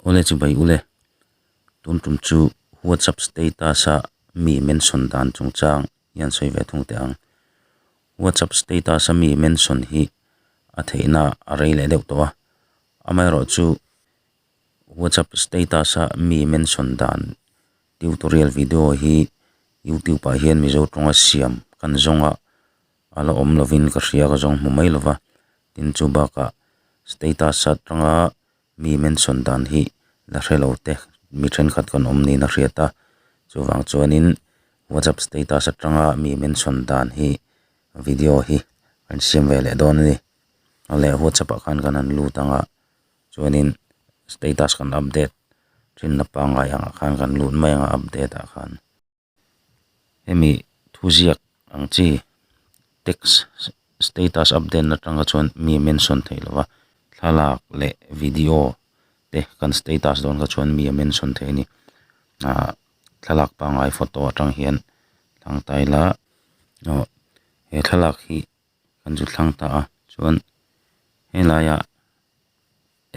Ule chu bai ule. Tun tum chu WhatsApp status a mi mention dan chung chang hian sawi ve thung teh ang. WhatsApp status a mi mention hi a theihna a rei leh deuh tawh a. Amaherawh chu WhatsApp status a mi mention dan tutorial video hi YouTube ah hian Mizo tawnga siam kan zawnga. a la awm lovin ka hria ka zawng hmu mai lova, tin chu bakah status atanga mi mention dan hi la hre lo teh mi thenkhat kan awm niin a hriat a, chuvang chuanin whatsapp status atanga mi mention dan hi video hi kan siam ve leh dawn a ni, a leh whatsapp ah khan kan han lut ang a, chuanin status kan update thin na pangngai ang ah khan kan lut mai ang a update ah khan. hemi thu ziak ang chi text status update atanga chuan mi mention theih lova thlalak leh video te kan status dawn kha chuan mi a mention theih a ni ah thlalak pangngai photo atang hian thlang ta ila aw he thlalak hi kan zut thlang ta a chuan helaia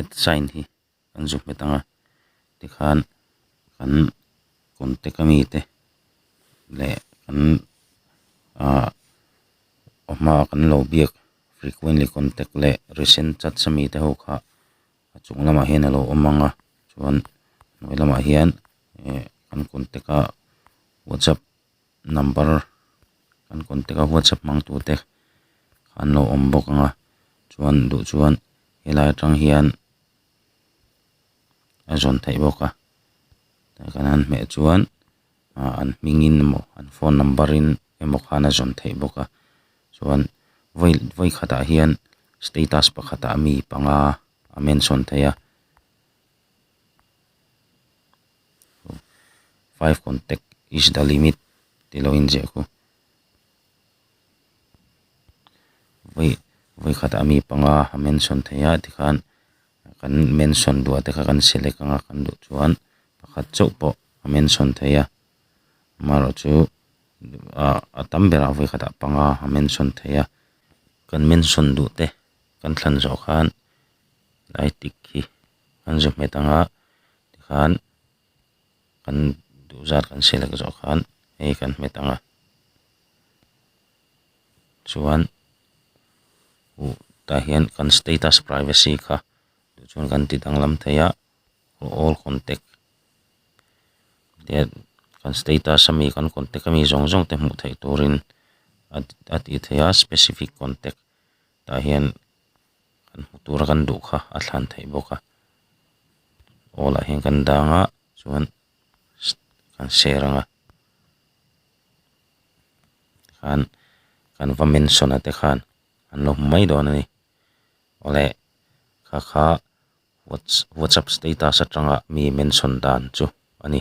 at sign hi-- kan zuk hmet ang a, tikhan kan contact ami te leh kan ah aw hma ah kan lo biak frequently contact leh recent chats ami te ho kha a chung lamah hian a lo awm ang a, chuan a hnuai lamah hian eh kan contact a WhatsApp. number kan contact a whatsapp hmang tur te an lo awm bawk ang a chuan duh chuan helai atang hian a zawn theih bawk a a kan han hmeh chuan ah an hming in emaw an phone number in emaw khan a zawn theih bawk a chuan vawi vawi khatah hian status pakhatah mi panga a mention theih a. five contact is the limit tih lo inziah a ku vawi vawi khat a mi panga a mention theih a tikhan kan mention duhah te kha kan select anga kan duh chuan pakhat chauh pawh a mention theih a amaherawhchu chu a tam berah vawi khatah panga a mention theih a kan mention duh te. kan thlan zawh khan ai tik hi an za hmet ang a tikhan kan duhzat kan selek zawh khan hei kan hmet ang a chuan u tah hian kan status privacy kha tih chuan kan ti danglam thei a all contact kan status ami kan contact ami zawng zawng te hmuh theih turin a tih theih a specific contact . tah hian kan hmu tur a kan duh kha a thlan theih bawk a aw lah hian kan dang a chuan kan seh rang a tikhan kan va mention ate khan an lo hmu mai dawn a ni awle kha kha whatsapp status atanga mi mention dan chu a ni.